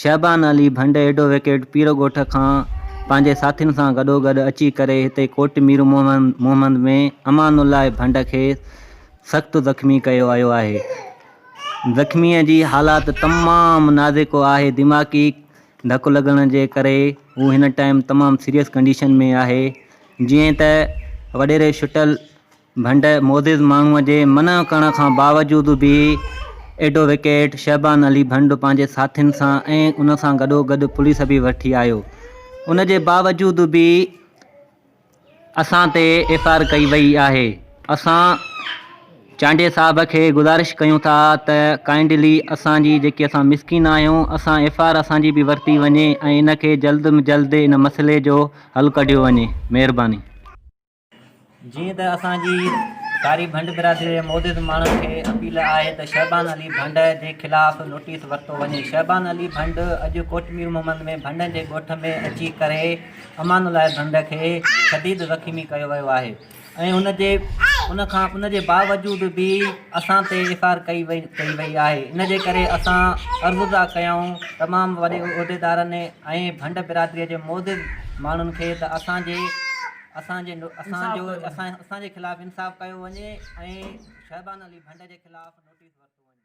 Shaban Ali Bhand advocate Pir Goth کان پنهنجي ساٿين سان گڏوگڏ اچي ڪري هتي ڪوٽ مير محمد ۾ امان الله ڀنڊ کي سخت زخمي ڪيو آيو آهي زخمي جي حالات تمام نازڪ آهي دماغي ڌڪ لڳڻ جي ڪري هو هن ٽائيم تمام سيريس ڪنڊيشن ۾ آهي جيئن ته وڏيري شٽل ڀنڊ معزز ماڻهوء جي منع ڪرڻ کان باوجود به ايڊووڪيٽ شعبان علي ڀنڊ پنهنجي ساٿين سان ۽ ان سان گڏوگڏ پوليس به وٺي آيو. ان جي باوجود به اسان تي ايف آر ڪئي وئي آهي. اسان چانڊيي صاحب کي گذارش ڪيون ٿا ته ڪائنڊلي اسان جي جيڪي اسان مسڪين آهيون اسان ايف آر اسان جي به ورتي وڃي ۽ ان کي جلد م جلد ان مسئلي جو حل ڪڍيو وڃي. مهرباني. جيئن ته اسان جي ڪاري ڀنڊ برادري جي معزز ماڻهن کي اپيل آهي ته شعبان علي ڀنڊ جي خلاف نوٽيس ورتو وڃي. شعبان علي ڀنڊ اڄ ڪوٽ مير محمد ۾ ڀنڊن جي ڳوٺ ۾ اچي ڪري امان الله ڀنڊ کي شديد زخمي ڪيو ويو آهي ۽ ان جي باوجود به اسان تي ايف آر ڪئي وئي آهي ان جي ڪري اسان عرضداء ڪيائون تمام وڏي عهديدارن ۽ ڀنڊ برادري جي معزز ماڻهن کي ته اسان جي اسان جي اسان جو اسان جي خلاف انصاف ڪيو وڃي ۽ شعبان علي ڀنڊ جي خلاف نوٽيس ورتو وڃي.